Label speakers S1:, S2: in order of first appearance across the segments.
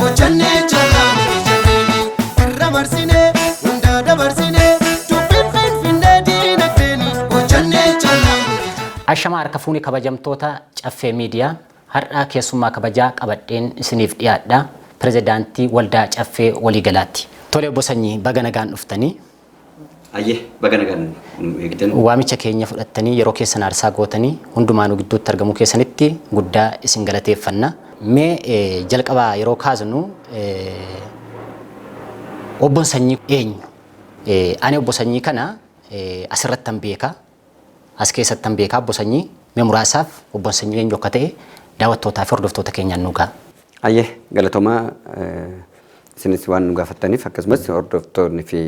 S1: Hojjannee jallaa miti jennee irra marsinee hunda dabarsinee dubbiin finfinnee diinagdeeni hojjannee jallaa miti jennee. Ashama harka fuune kabajamtoota Caffee Miidiyaa har'a keessummaa kabajaa qabadheen isiniif dhiyaadha. Pirezidaantii Waldaa Caffee Waliigalaatti. Tole Obbo Sanyii baga nagaan dhuftanii. Ayyee
S2: baga nagaan nu eegdan. Waamicha keenya
S1: fudhattanii yeroo keessan aarsaa gootanii hundumaa nu gidduutti argamuu keessanitti guddaa isin galateeffanna. Mee eh, jalqabaa yeroo kaasnu eh, obbon sanyii eenyu? Eh, Ani obbo sanyii kana eh, asirrattan beeka. As keessattan beeka Obbo Sanyii. Mee muraasaaf Obbon Sanyii eenyu akka ta'e daawwattootaa fi hordoftoota keenyaan nuu ga'a. Hayyee galatomaa
S2: isinis waan nu gaafattaniif akkasumas hordoftoonni fi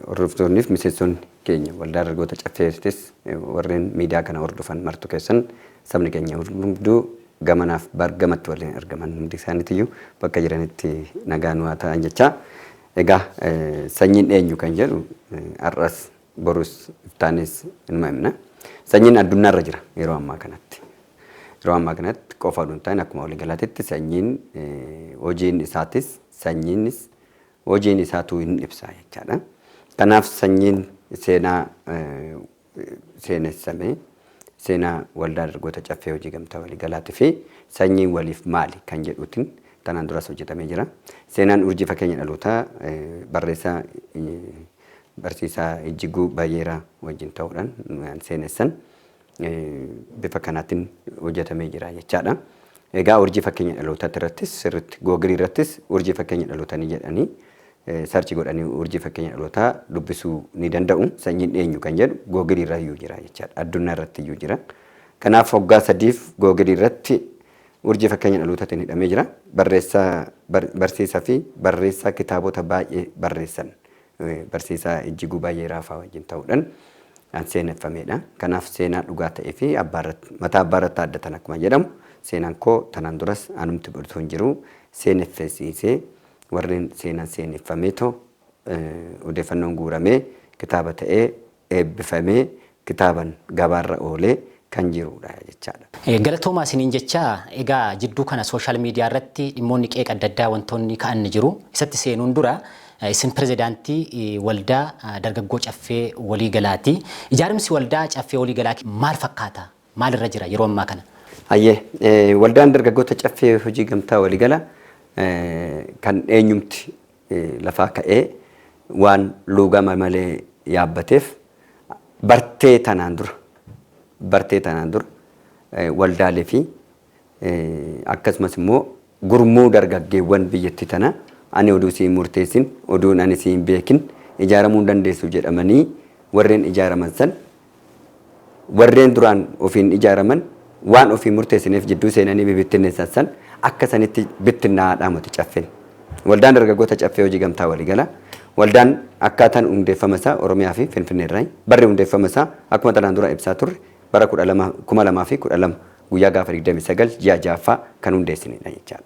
S2: hordoftoonni fi miseensonni keenya waldaa dargaggoota caffeetis warreen miidiyaa kana hordofan martu keessan sabni keenya hunduu gamanaaf bar gamatti waliin argaman hundi isaaniitiyyuu bakka jiranitti nagaa nu haa ta'an jechaa egaa sanyiin eenyu kan jedhu har'as Borus iftaanis inuma himna. Sanyiin addunyaa irra jira yeroo ammaa kanatti. Yeroo ammaa kanatti qofa oduu hin taane akkuma waliigalaatitti sanyiin hojiin isaatis sanyiinis hojiin isaatuu hin ibsa jechaadha. Kanaaf sanyiin seenaa seenessame seenaa waldaa dargoota caffee hojii gamtaa waliigalaatii fi sanyiin waliif maali kan jedhuutiin tanaan duras hojjetamee jira. Seenaan urjii fakkeenya dhalootaa barreessaa Barsiisaa Ijjiguu Bayyeeraa wajjin ta'uudhaan waan seenessan bifa kanaatiin hojjetamee jira jechaadha. Egaa urjii fakkeenya dhalootaatti irrattis sirriitti googilii irrattis urjii fakkeenya dhalootanii jedhanii sarchi godhanii urjii fakkeenya dhalootaa dubbisuu ni danda'u. Sanyiin eenyu kan jedhu googilii irra iyyuu jira jechaadha. Addunyaa irratti iyyuu jira. Kanaaf waggaa sadiif googilii irratti urjii fakkeenya dhalootaatiin hidhamee jira. Barreessaa barsiisaa fi barreessaa kitaabota baay'ee barreessan. Barsiisaa Ijjiguu Baayyeeraafaa wajjin ta'uudhan kan seeneffamedha. Kanaaf seenaa dhugaa ta'eefi mataa abbaa irratti haaddatan akkuma jedhamu seenaan koo tanaan duras anumti bor utuu hin jiruu seeneffesiisee warreen seenaan seeneffameetoo odeeffannoon guuramee kitaaba ta'ee eebbifamee kitaaban gabaarra oolee kan jiruudha jechaadha. Galatoomaa isiniin
S1: jechaa, egaa jidduu kana social media irratti dhimmoonni qeeqa adda addaa wantoonni ka'an ni jiru. Isatti seenuun dura, isin pirezidaantii waldaa dargaggoo Caffee Walii Galaati. Ijaarimsi waldaa Caffee Walii Galaa maal fakkaata? Maal irra jira yeroo ammaa kana? Hayyee,
S2: waldaan dargaggoota Caffee Hojii Gamtaa Walii Gala kan eenyumti lafaa ka'ee waan luugama malee yaabbateef bartee tanaan dura bartee tanaan dura waldaalee fi akkasumas immoo gurmuu dargaggeewwan biyyatti tana ani oduu siin murteessin oduun ani siin beekin ijaaramuu hin dandeessu jedhamanii warreen ijaaraman san Warreen duraan ofiin ijaaraman waan ofiin murteessineef jidduu seenanii bibittinneessan san akka sanitti bittinnaa'aa dhaamote Caffeen. Waldaan Dargaggoota Caffee Hojii Gamtaa Waliigalaa, Waldaan akkaataan hundeeffama isaa Oromiyaa fi Finfinnee irraayi. Barri hundeeffama isaa akkuma tanaan dura ibsaa turre bara 12, 2012 guyyaa gaafa 29 ji'a 6ffaa kan hundeessinedha jechaadha.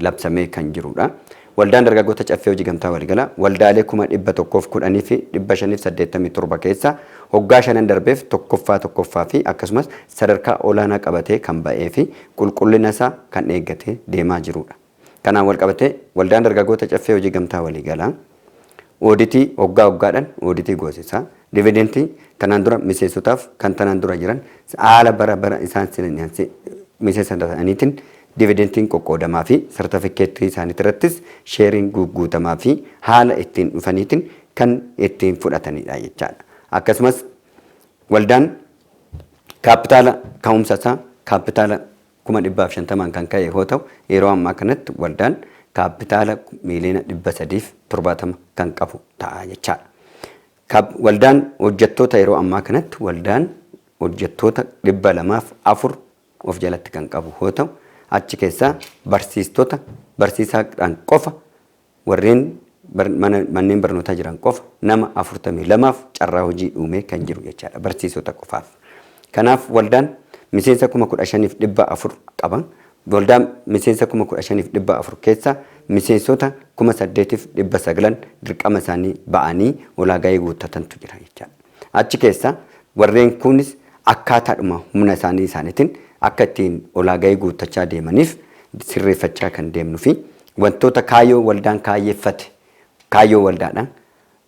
S2: labsamee kan jirudha. Waldaan Dargaggoota Caffee Hojii Gamtaa Waligala waldaalee 110,587 keessaa hoggaa shanan darbeef tokkoffaa tokkoffaa fi akkasumas sadarkaa olaanaa qabatee kan ba'ee fi qulqullina isaa kan eeggatee deemaa jirudha. Kanaan walqabatee Waldaan Dargaggoota Caffee Hojii Gamtaa Waliigalaa. Ooditii oggaa oggaadhan ooditii goosisa. Dividentii tanaan dura miseensotaaf kan tanaan dura jiran haala bara bara isaan seenaniansi miseensa ta'aniitin dividentiin qoqqoodamaafi sartafikkeettii isaanitirrattis sheeriin guugguutamaafi haala ittiin dhufaniitin kan ittiin fudhataniidha jechaadha. Akkasumas waldaan kaappitaala ka'umsa isaa kaappitaala kuma dhibbaaf shantamaan kan ka'e hoo ta'u, yeroo ammaa kanatti waldaan kaappitaala miiliyoona dhibba sadiif torbaatama kan qabu ta'a jechaadha. Kab waldaan hojjettoota yeroo ammaa kanatti waldaan hojjettoota dhibba lamaaf afur of jalatti kan qabu hoo ta'u, achi keessaa barsiistota barsiisaadhaan qofa Warreen manneen barnootaa jiran qofa nama 42f carraa hojii uumee kan jiru jechaadha, barsiisota qofaaf. Kanaaf waldaan miseensa 15,400 qaba. Waldaa miseensa 15,400 keessaa miseensota 8,900n dirqama isaanii ba'anii ulaagaayee guuttatantu jira jechaadha. Achi keessaa warreen kuunis akkaataadhuma humna isaanii isaaniitiin akka ittiin ulaagaayee guuttachaa deemaniif sirreeffachaa kan deemnufi Wantoota kaayoo waldaan kaayyeffate kaayyoo waldaadhaan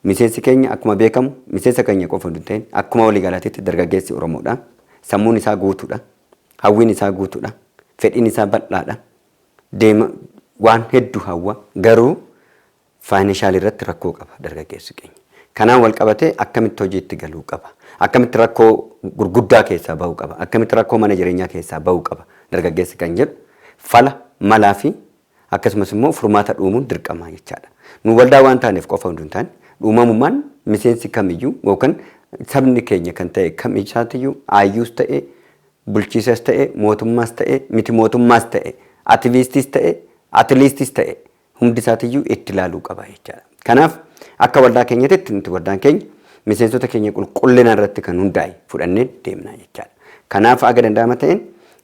S2: miseensi keenya akkuma beekamu miseensa keenya qofa utuu hin ta'in akkuma waliigalaatiitti dargaggeessi Oromoodha. Sammuun isaa guutuudha. Hawwiin isaa guutuudha. Fedhiin isaa bal'aadha. Deema waan hedduu hawwa. Garuu faayinanshaal irratti rakkoo qaba dargaggeessi keenya. Kanaan wal qabatee akkamitti hojiitti galuu qaba? Akkamitti rakkoo gurguddaa keessaa ba'uu qaba? Akkamitti rakkoo mana jireenyaa keessaa ba'uu qaba dargaggeessi kan jedhu fala, malaa fi akkasumas immoo furmaata dhuumuun dirqama jechaa dha. Nu waldaa waan taaneef qofa utuu hin taane, dhuumamummaan miseensi kam iyyuu yookaan sabni keenya kan ta'e kam isaati iyyuu, aayyuus ta'e, bulchiisas ta'e, mootummaas ta'e, miti mootummaas ta'e, ativiistiis ta'e, atiliistis ta'e, hundi isaatiyyuu itti ilaaluu qaba jechaadha. Kanaaf akka waldaa keenyatitti nuti waldaan keenya miseensota keenya qulqullina irratti kan hundaa'e fudhannee deemna jechaadha. Kanaaf aga danda'ama ta'een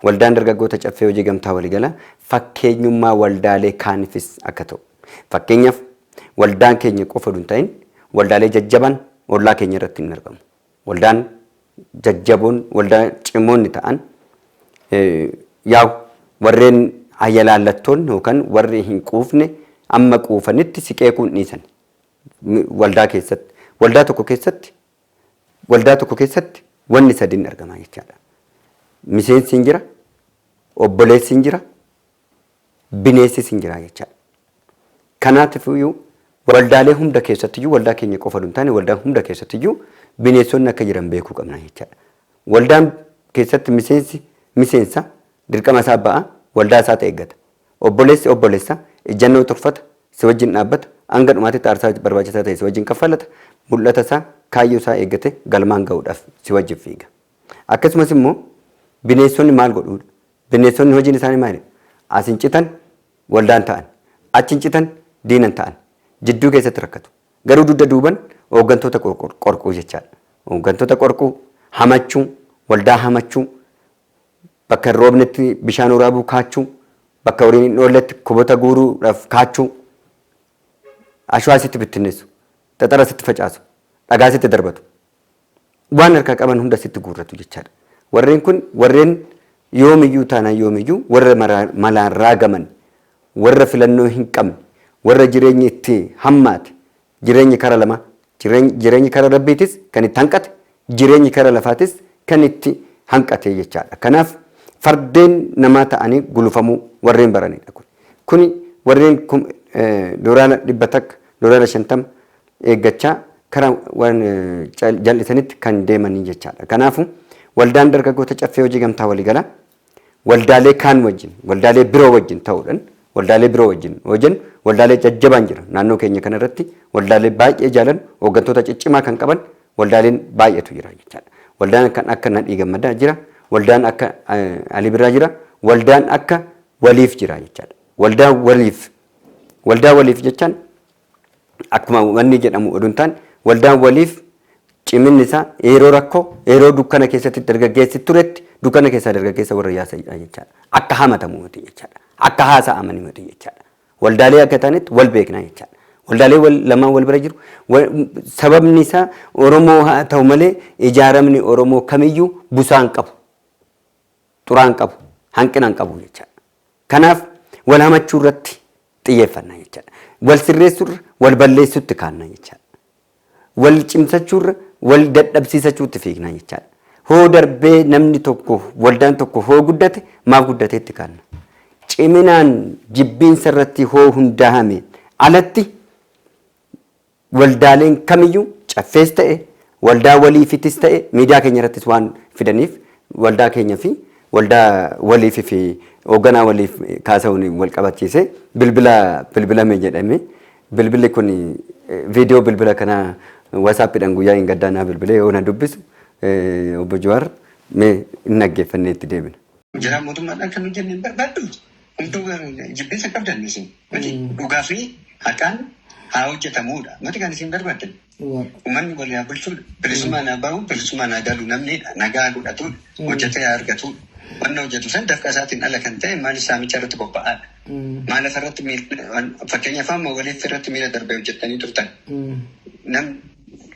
S2: waldaan dargaggoota caffee hojii gamtaa waliigalaa fakkeenyummaa waldaalee kaanifis akka ta'u. Fakkeenyaaf waldaan keenya qofa utuu hin ta'in waldaalee jajjabaan ollaa keenya irratti ni argamu. Waldaan jajjaboon, waldaa cimoonni ta'an yaa'u warreen hayalaallattoonni yookaan warri hin quufne amma quufanitti si qeequu hin dhiisani. Waldaa keessatti. Waldaa tokko keessatti waldaa tokko keessatti wanni sadiin argamaa jechaadha. Miseensi hin jira, obboleessi hin jira, bineessis hin jiraa jechaadha. Kanaatifiyyuu waldaalee hunda keessattiyyuu waldaa keenya qofa oduu hin taane waldaa hunda keessattiyyuu bineessonni akka jiran beekuu qabna jechaadha. Waldaan keessatti miseensi miseensa dirqama isaa ba'a waldaa isaati eeggata. Obboleessi obboleessa ijjannoo turfata si wajjin dhaabbata hanga dhumaatitti aarsaa barbaachisaa ta'e si wajjin kaffalata mul'ata isaa kaayyoo isaa eeggate galmaan ga'uudhaaf si wajjin fiiga. Akkasumas immoo bineessonni maal godhuudha? Bineessonni hojiin isaanii maalidha? As hin citan waldaan ta'an, achi hin citan diina hin ta'an. Jidduu keessatti rakkatu. Garuu dugda duuban hooggantoota qorquu jechaadha. Hooggantoota qorquu, hamachuu, waldaa hamachuu, bakka hin roobnetti bishaan waraabuu kaachuu, bakka horiin hin oolletti kobota guuruudhaaf kaachuu, ashwaa sitti bittinneessu, xaxara sitti facaasu, dhagaa sitti darbatu. waan harkaa qaban hunda sitti guurratu jechaadha. Warreen kun warreen yoomiyyuu taanaan yoomiyyuu warra maraa- malaan raagaman, warra filannoo hin qabne, warra jireenyi itti hammaate, jireenyi kara lamaa, jireeny- jireenyi kara Rabbiitis kan itti hanqate, jireenyi kara lafaatis kan itti hanqate jechaadha. Kanaaf fardeen namaa ta'anii gulufamuu warreen baranidha kun. Kuni warreen kum- eh, doolaara dhibba takka, doolaara shantama, eeggachaa kara waan jal'isanitti kan deemanii jechaadha. Kanaafu waldaan dargaggoota caffee hojii gamtaa waligala waldaalee kaan wajjin waldaalee biroo wajjin ta'uudhan waldaalee biroo wajjin hojen waldaalee jajjabaan jira naannoo keenya kana irratti waldaalee baay'ee jaalan hooggantoota ciccimaa kan qaban waldaaleen baay'eetu jira jechaadha. Waldaan kan akka Nadhii Gammadaa jira waldaan akka Alii Birraa jira waldaan akka waliif jira jechaadha. Waldaa waliif waldaa waliif jechaan akkuma wanni jedhamu oduu hin taane waldaan waliif ciminni isaa yeroo rakkoo yeroo dukkana keessatti dargaggeessi turetti dukkana keessaa dargaggeessa warra yaasa'idha jechaadha. Akka hamatamu miti jechaadha. Akka haasa'amani miti jechaadha. Waldaalee akka taanetti wal beekna jechaadha. Waldaalee wal, lamaan wal bira jiru. Wa- Sababni isaa Oromoo haa ta'u malee ijaaramni Oromoo kamiyyuu busaa hin qabu. xuraa hin qabu, hanqina hin qabu jechaadha. Kanaaf wal hamachuu irratti xiyyeeffanna jechaadha. Wal sirreessuu irra wal balleessuutti kaanna jechaadha. Wal cimsachuu irra wal dadhabsiisachuutti fiigna jechaadha. Hoo darbee namni tokko waldaan tokko hoo guddate maaf guddateetti kaanna. Ciminaan jibbiinsa irratti hoo hundaa'ame alatti Waldaaleen kamiyyuu Caffees ta'e waldaa waliifitis ta'e miidiyaa keenya irrattis waan fidaniif waldaa keenya fi waldaa waliif fi hoogganaa waliif kaasa'uun wal qabachiisee bilbila bilbilame jedhame. Bilbilli kun viidiyoo bilbila kanaa wasaappiidhaan guyyaa hin gaddaa naa bilbilee yoo na dubbisu obbo Jawaar mee hin dhaggeeffannee itti deebina. Hojjetaan mootummaadhaan
S3: kan hojjenne hin barbaaddu? Hunduu garuu jibbinsa qabdan isin. Mati dhugaa fi haqaan haa hojjetamuudha. Mati kan isin barbaaddan. Uummanni wal yaa bulchuu bilisummaa naa bahu bilisummaa naa galu namni nagaa godhatu hojjetee haa argatu. Wanna hojjetu san dafqa isaatiin ala kan ta'e maaliif saamicha irratti bobba'aadha. Maal lafa irratti miil- fakkeenyaaf amma waliif irratti miila darbee hojjettanii turtan. Nam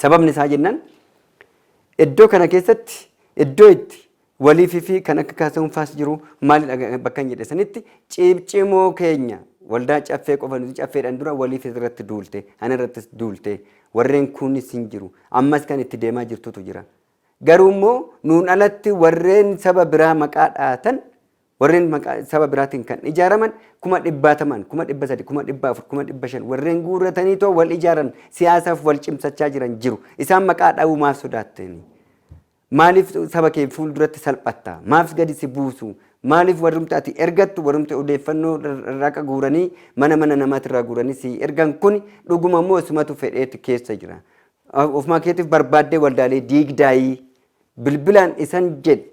S2: Sababni isaa jennaan iddoo kana keessatti iddoo itti waliif fi kan akka kaasa'uun faas jiru maalidha bakkan jedhe sanitti ciibcimoo keenya waldaa caffee qofa nuti caffeedhaan dura waliif irratti duulte ana irrattis duulte warreen kunis hin jiru ammas kan itti deemaa jirtutu jira garuu immoo nuun alatti warreen saba biraa maqaa dhaatan Warreen maqaa saba biraatiin kan ijaaraman kuma dhibbaatamaan, kuma dhibba sadi, kuma dhibba afur, kuma dhibba shan warreen guurrataniitoo wal ijaaran siyaasaaf wal cimsachaa jiran jiru. Isaan maqaa dha'uu maaf sodaattani? Maaliif saba kee fuulduratti salphatta? Maaf gadi si buusu? Maaliif warrumti ati ergattu warrumti odeeffannoo raqa guuranii mana mana namaatirraa guuranii si ergan kuni dhuguma immoo isumatu fedheeti keessa jira. Ofumaa keetiif barbaaddee waldaalee diigdaayii bilbilaan isan jedhi.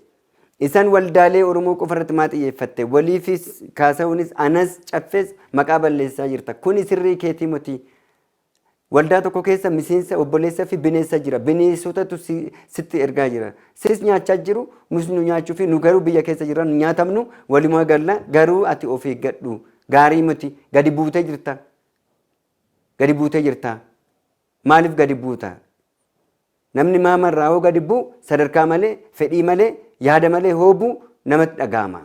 S2: Isaan waldaalee Oromoo qofa irratti maa xiyyeeffatte? Waliifis, Kaasahunis, anas, Caffees maqaa balleessaa jirta. Kuni sirrii keetii moti. Waldaa tokko keessa miseensa, obboleessa fi bineessa jira. Bineesotatu si, sitti ergaa jira. Sis nyaachaa jiru, nus nu nyaachuu fi nu garuu biyya keessa jirra, nu nyaatamnu, walumaa galla, garuu ati of eeggadhu. Gaarii moti. Gadi buutee jirta. Gadi buutee jirta. Maaliif gadi buuta? Namni maama irraa hoo gadi bu'u sadarkaa malee, fedhii malee, yaada malee hoo bu'u namatti dhaga'ama.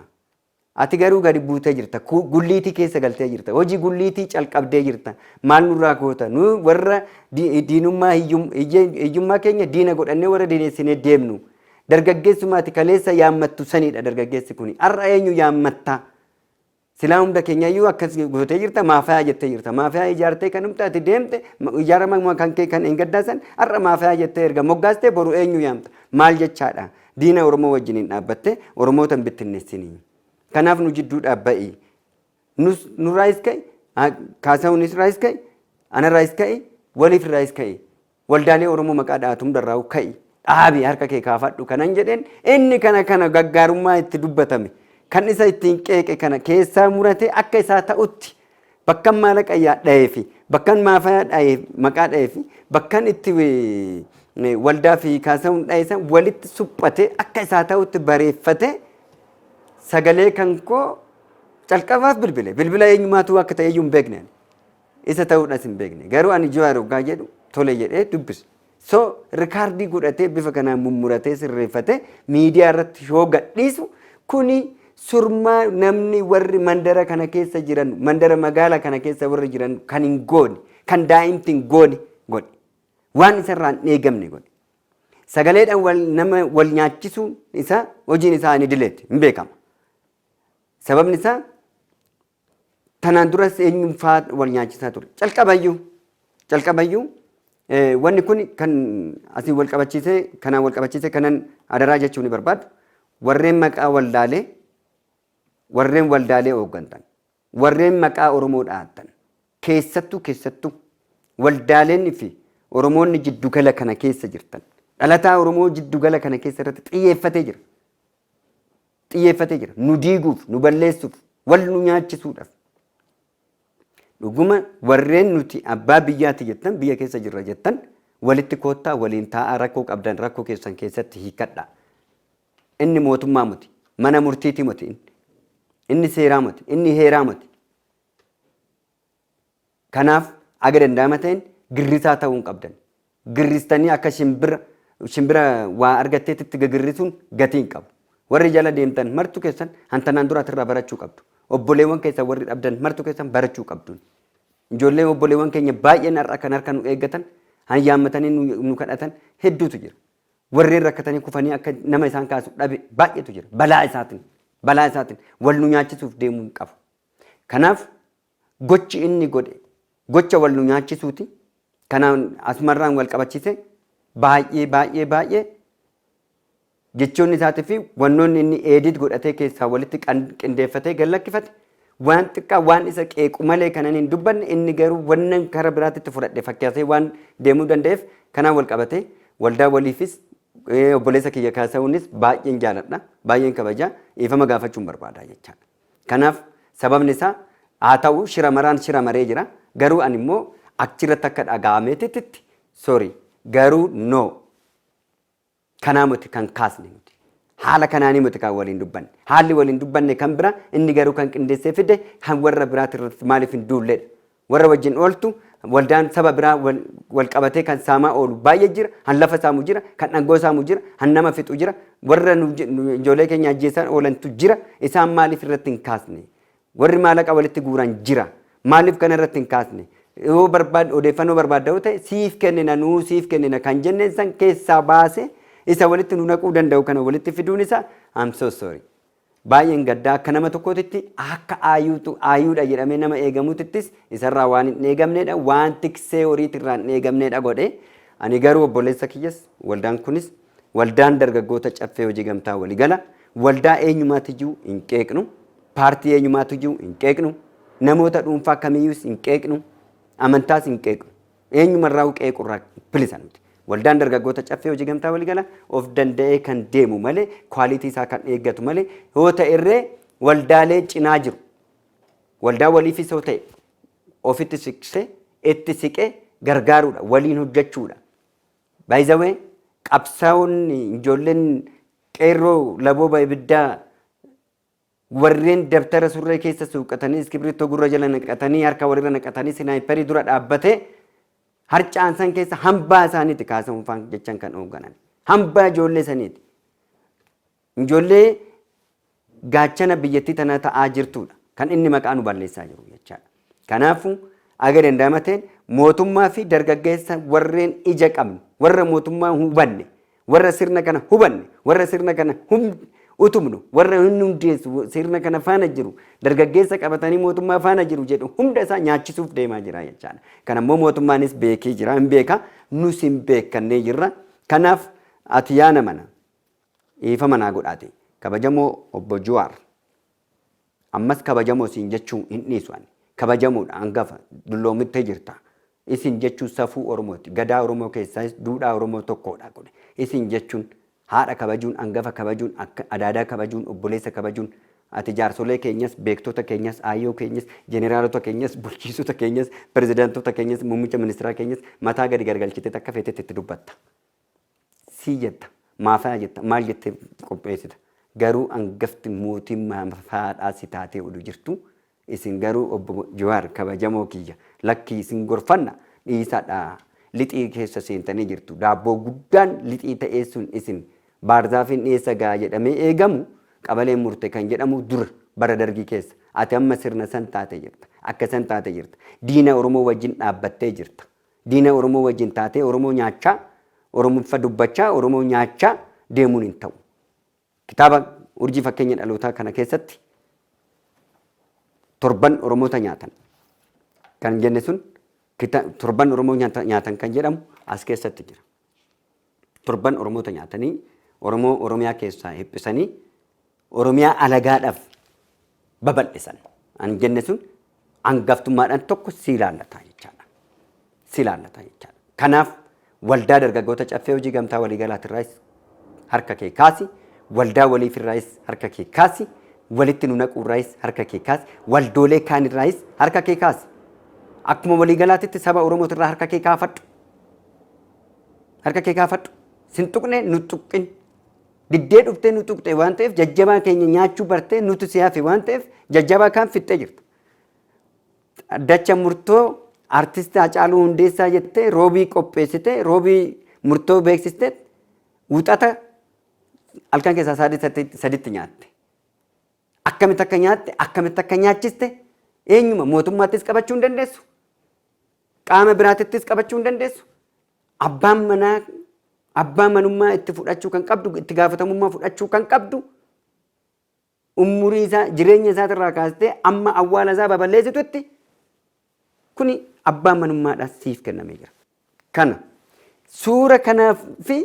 S2: Ati garuu gadi buutee jirta. Ku- Gulliitii keessa galtee jirta. Hojii gulliitii calqabdee jirta. Maal nurraa goota? Nu warra di- diinummaa hiyyum- hiyye- hiyyummaa keenya diina godhannee warra diineessinee deemnu. Dargaggeessummaa ati kaleessa yaammattu sanidha dargaggeessi kuni. Har'a eenyu yaammatta? Silaa hunda keenya iyyuu akkas gootee jirta maafayaa jettee jirta. Maafayaa ijaartee kan humta ati deemte ijaarama kan kee kan eeggaddaasan har'a maafayaa jettee erga moggaastee boru eenyu yaamta. Maal jechaadha? Diina Oromoo wajjin hin dhaabbattee Oromoota hin bittinneessinii. Kanaaf nu jidduu dhaabba'i. Nus nurraayis ka'i, kaasawunis raayis ka'i, anarraayis ka'i, waliif raayis ka'i. Waldaalee Oromoo maqaa dhahatu hundarraahuu ka'i, dhaabi, harka kee kaafadhu kanan jedheen inni kana kana gaggaarummaa itti dubbatame, kan isa ittiin qeeqe kana keessaa muratee akka isaa ta'utti bakkan maalaqa dhahee fi bakkan maafayaa dhahee maqaa dhahee fi bakkan itti waldaa fi kaasawuun dhahe san walitti suphatee akka isaa ta'utti bareeffatee sagalee kan koo calqabaaf bilbile. Bilbila eenyumaatu akka ta'e iyyuu hin beekne. Isa ta'uudhas hin beekne. Garuu ani Jawaar oggaa jedhu tole jedhee dubbise. So rikaardii godhatee bifa kanaan mummuratee sirreeffatee miidiyaa irratti yoo gadhiisu kuni surmaa namni warri mandara kana keessa jiran mandara magaala kana keessa warri jiran kan hin goone kan daa'imti hin goone godhe. Waan isarraa hin eegamne godhe. Sagaleedhaan wal nama wal nyaachisuun isaa hojiin isaa hin idileeti hin beekama. Sababni isaa Tanaan duras eenyuun faa wal nyaachisaa ture. Calqabayyuu calqabayyuu wanni kun kan asiin wal qabachiisee kanaan wal qabachiisee kanan adaraa jechuu ni barbaadu. Warreen maqaa waldaalee warreen waldaalee hooggantan warreen maqaa Oromoo dhahattan keessattuu keessattuu waldaaleen fi Oromoonni jiddugala kana keessa jirtan dhalataa Oromoo jiddugala kana keessa irratti xiyyeeffatee jira. xiyyeeffatee jira. Nu diiguuf, nu balleessuuf, wal nu nyaachisuudhaaf. Dhuguma warreen nuti abbaa biyyaati jettan, biyya keessa jirra jettan, walitti koottaa waliin taa'aa rakkoo qabdan rakkoo keessan keessatti hiikkadhaa. Inni mootummaa miti. Mana murtiiti miti inni. Inni seeraa miti. Inni heeraa miti. Kanaaf haga danda'ama ta'een girrisaa ta'uu hin qabdan. Girristanii akka shimbira shimbira waa argatteetitti gagirrisuun gatii hin qabu. Warri jala deemtan martu keessan han tanaan dura asirraa barachuu qabdu. Obboleewwan keessan warri dhabdan martu keessan barachuu qabdun. Ijoollee obboleewwan keenya baay'een har'a kan harka nu eeggatan han yaammatanii nu nu kadhatan hedduutu jira. Warreen rakkatanii kufanii akka nama isaan kaasu dhabe baay'eetu jira. Balaa isaatiin balaa isaatiin wal nu nyaachisuuf deemuu hin qabu. Kanaaf Gochi inni godhe gocha wal nu nyaachisuuti. Kanaan Asmarraan wal qabachisee baay'ee baay'ee baay'ee jechoonni isaatii fi wannoonni inni eedit godhatee keessaa walitti qindeeffatee gad lakkifate waan xiqqaa waan isa qeequ malee kanan hin dubbanne inni garuu wannan kara biraatitti fudhadhe fakkaasee waan deemuu danda'eef kanaan wal qabatee waldaa waliifis obboleessa kiyya kaasa'uunis baay'een jaaladha baay'een kabajaa dhiifama gaafachuun barbaadaa jechaadha. Kanaaf sababni isaa haa ta'uu shira maraan shira maree jira garuu ani immoo akchirratti akka dhaga'ameetititti sorry garuu no kanaa muti kan kaasne nuti haala kanaanii muti kan waliin dubbanne haalli waliin dubbanne kan bira inni garuu kan qindeessee fide kan warra biraatirratti maaliif hin duulledha Warra wajjin ooltu, waldaan saba biraa wal qabatee kan saamaa oolu baay'ee jira, kan lafa saamu jira, kan dhangoo saamu jira, kan nama fixu jira, warra ijoollee keenya ajjeessaa oolantu jira, isaan maaliif irratti hin kaasne? Warri maalaqa walitti guuran jira, maaliif kana irratti hin kaasne? Yoo barbaad odeeffannoo barbaadda yoo ta'e siif kennina nuu siif kennina kan jenneen san keessaa baasee isa walitti nu naquu danda'u kana walitti fiduun isaa I'm so sorry. Baay'een gadda akka nama tokkootitti akka aayuutu aayuudha jedhamee nama eegamutittis isarraa waan hin eegamneedha waan tiksee horiitirraa hin eegamneedha godhe ani garuu obboleessa kiyyas waldaan kunis waldaan dargaggoota caffee hojii gamtaa waligala waldaa eenyumaatijuu hin qeeqnu paartii eenyumaatijuu hin qeeqnu namoota dhuunfaa kamiyyuus hin qeeqnu amantaas hin qeeqnu Eenyumarraa'uu qeequurraa bilisa miti. Waldaan Dargaggoota Caffee Hojii Gamtaa Waliigala of danda'ee kan deemu malee, quality isaa kan eeggatu malee, yoo ta'erree waldaalee cinaa jiru. Waldaa waliifis yoo ta'e ofitti siqsee, itti siqee gargaaruudha, waliin hojjechuudha. By the way, qabsaa'onni ijoolleen qeerroo labooba ibiddaa Warreen dabtara surree keessa suuqqatanii, iskibirittoo gurra jala naqatanii, harka walirra naqatanii sinaayipperii dura dhaabbatee harca'an san keessa hambaa isaaniiti kaasa hunfaan jechan kan hoogganan. Hambaa ijoollee saniiti. Ijoollee gaachana biyyattii tanaa ta'aa jirtuudha. Kan inni maqaa nu balleessaa jiru jechaadha. Kanaafuu, haga danda'ama ta'een mootummaa fi dargaggeessa warreen ija qabnu, warra mootummaa hubanne, warra sirna kana hubanne, warra sirna kana hum- utubnu, warra inni hundeessu sirna kana faana jiru, dargaggeessa qabatanii mootummaa faana jiru jedhu hunda isaa nyaachisuuf deemaa jira jechaadha. Kana immoo mootummaanis beekee jira, hin beeka, nus hin beekannee jirra. Kanaaf ati yaa namana dhiifama naa godhaati. Kabajamoo obbo Juwaar. Ammas kabajamoo siin jechuu hin dhiisu ani. Kabajamoodha, hangafa, dulloomittee jirta. Isin jechuun safuu Oromooti. Gadaa Oromoo keessaayis duudhaa Oromoo tokkoodha kuni. Isin jechuun haadha kabajuun, hangafa kabajuun, akka adaadaa kabajuun, obboleessa kabajuun, ati jaarsolee keenyas, beektota keenyas, aayyoo keenyas, jeneraalota keenyas, bulchiinsota keenyas, pirezidaantota keenyas, muummicha ministiraa keenyas mataa gadi gargalchiteet akka feetetti itti dubbatta. sii jetta maafana jetta maal jettee qopheessita garuu angafti mootiin maafaadhaa si taatee odu jirtu isin garuu obbo Jawaar kabajamoo kiyya lakkii isin gorfanna dhiisadha lixii keessa seentanii jirtu daabboo guddaan lixii ta'ee sun isin baarzaafiin dhiyeessa ga'a jedhamee eegamu qabaleen murte kan jedhamu dura bara dargii keessa ati amma sirna san taate jirta akka san taate jirta diina oromoo wajjin dhaabbattee jirta Diina Oromoo wajjin taatee Oromoo nyaachaa, Oromiffa dubbachaa, Oromoo nyaachaa deemuun hin ta'u. Kitaaba Urjii Fakkeenya Dhalootaa kana keessatti torban Oromoota nyaatan kan jenne sun kita- torban Oromoo nyaata- nyaatan kan jedhamu as keessatti jira. Torban Oromoota nyaatanii Oromoo Oromiyaa keessaa hiphisanii Oromiyaa alagaadhaaf babal'isan. An jenne sun angaftummaadhaan tokko si ilaallata jechaadha. Si ilaallata jechaadha. Kanaaf waldaa dargaggoota caffee hojii gamtaa waliigalaatirraayis harka kee kaasi, waldaa waliifirraayis harka kee kaasi, walitti nu naquurraayis harka kee kaasi, waldoolee kaanirraayis harka kee kaasi. Akkuma waliigalaatitti saba Oromootirraa harka kee kaafadhu. Harka kee kaafadhu. Sin tuqne nu tuqqin. Diddee dhuftee nu tuqxe waan ta'eef jajjabaa keenya nyaachuu bartee nutu si hafe waan ta'eef jajjabaa kaan fixxee jirta. Dacha murtoo artisti Hacaaluu Hundeessaa jettee roobii qopheessitee roobii murtoo beeksistee wuxata halkan keessaa sa'aatii sadii- saditti nyaatte. Akkamitti akka nyaatte akkamitti akka nyaachiste eenyuma mootummaattis qabachuu hin dandeessu. Qaama biraatittis qabachuu hin dandeessu. Abbaan manaa abbaa manummaa itti fudhachuu kan qabdu itti gaafatamummaa fudhachuu kan qabdu umurii isaa jireenya isaatirraa kaastee amma awwaala isaa baballeessitutti kuni abbaa manummaadha siif kennamee jira. Kana suura kanaa fi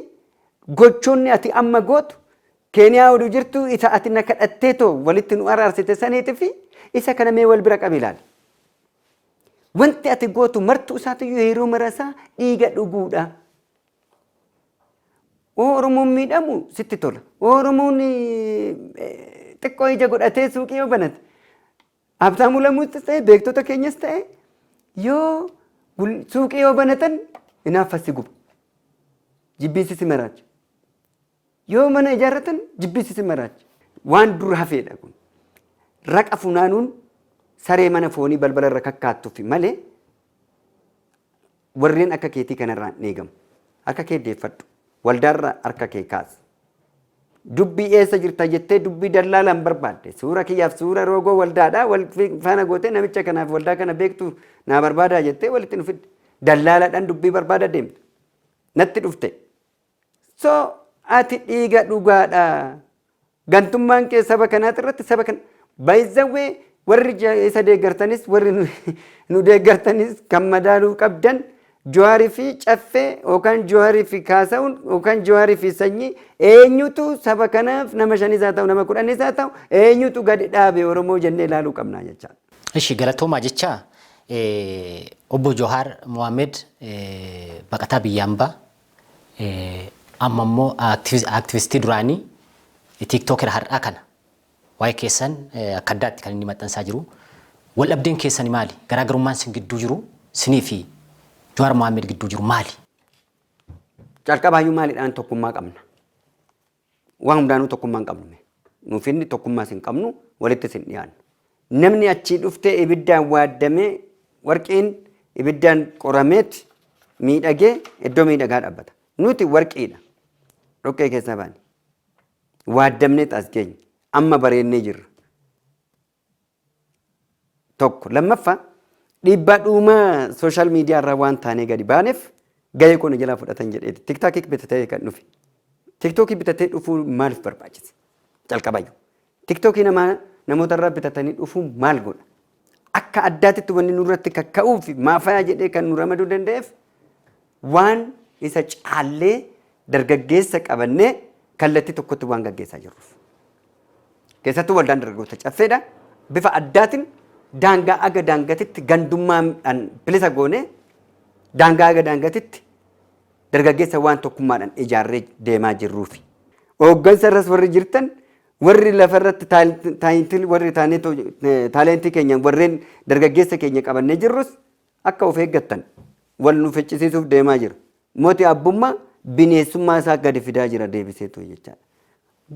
S2: gochoonni ati amma gootu keeniyaa oduu jirtu isa ati na kadhattee too walitti nu araarsite saniiti fi isa kana mee wal bira qabi ilaali. Wanti ati gootu martuu isaatiyyuu yeroo marasaa dhiiga dhuguudha. Oo Oromoon miidhamu sitti tola. Oo Oromoon xiqqoo ija godhatee suuqii yoo banate. Abtaamuu lamuuttis ta'e beektota keenyas ta'e yoo suuqii yoo banatan inaaffa si guba. Jibbiinsi si maraacha. Yoo mana ijaarratan jibbiinsi isin maraacha. Waan dur hafeedha kun. Raqa funaanuun saree mana foonii balbala irra kakkaattufi malee warreen akka keetii kanarraa hin eegamu. Harka kee deeffadhu. Waldaarra harka kee kaasi. Dubbii eessa jirta jettee dubbii dallaalaan barbaadde. Suura kiyyaaf suura roogoo waldaadhaa wal faana gootee namicha kanaaf waldaa kana beektu naa barbaadaa jettee walitti nu fidde. Dallaalaadhaan dubbii barbaada deemta. Natti dhufte. So ati dhiiga dhugaadha. Gantummaan kee saba kanaati irratti saba kana baay'izawwee warri ja- isa deeggartanis warri nu- nu deeggartanis kan madaaluu qabdan Jawaarii fi caffee yookaan Jawaarii fi kaasa'uun yookaan Jawaarii fi sanyii eenyutu saba kanaaf nama shanis haa ta'u nama kudhanis haa ta'u eenyutu gadi dhaabe Oromoo jennee ilaaluu qabna jechaa. Ishi galatoomaa
S1: jecha eh, obbo Johaar Mohaammed eh, baqataa biyya ambaa Amma immoo activistii duraanii TikToker har'aa kana waa'ee keessan akka addaatti kan inni maxxansaa jiru. Wal dhabdeen keessani maali? Garaagarummaan sin gidduu jiru sinii fi Jawaar Mohammed gidduu jiru maali? Calqabaayyuu
S2: maalidhaan tokkummaa qabna? Waan hundaanuu tokkummaa hin qabnu mee. Nuuf inni tokkummaas hin qabnu, walittis hin dhiyaannu. Namni achii dhuftee ibiddaan waaddamee warqiin ibiddaan qorameet miidhagee iddoo miidhagaa dhaabbata. Nuti warqiidha. Dhoqqee keessaa baane. Waaddamneet as geenye. Amma bareennee jirra. tokko. Lammaffaa dhiibbaa dhuumaa sooshaal miidiyaa irraa waan taanee gadi baaneef gahee koo na jalaa fudhatan jedheeti. Tiktaakii bitatee kan dhufe. Tiktookii bitatee dhufuu maaliif barbaachise? Calqabayyuu. Tiktookii namaa namoota irraa bitatanii dhufuu maal godha? Akka addaatitti wanni nurratti kakka'uu fi maafayaa jedhee kan nu ramaduu danda'eef Waan isa caallee dargaggeessa qabannee kallattii tokkotti waan gaggeessaa jirruuf. Keessattuu waldaan dargaggoota caffeedha. Bifa addaatiin daangaa aga daangatitti gandummaadhaan bilisa goonee daangaa aga daangatitti dargaggeessa waan tokkummaadhaan ijaarree deemaa jirruufi. Hooggansa irras warri jirtan warri lafa irratti taayitil warri taalentii keenya warreen dargaggeessa keenya qabannee jirrus Akka of eeggattan wal nu ficcisiisuuf deemaa jira. Moti abbummaa bineessummaa isaa gadi fidaa jira deebiseetu jechaadha.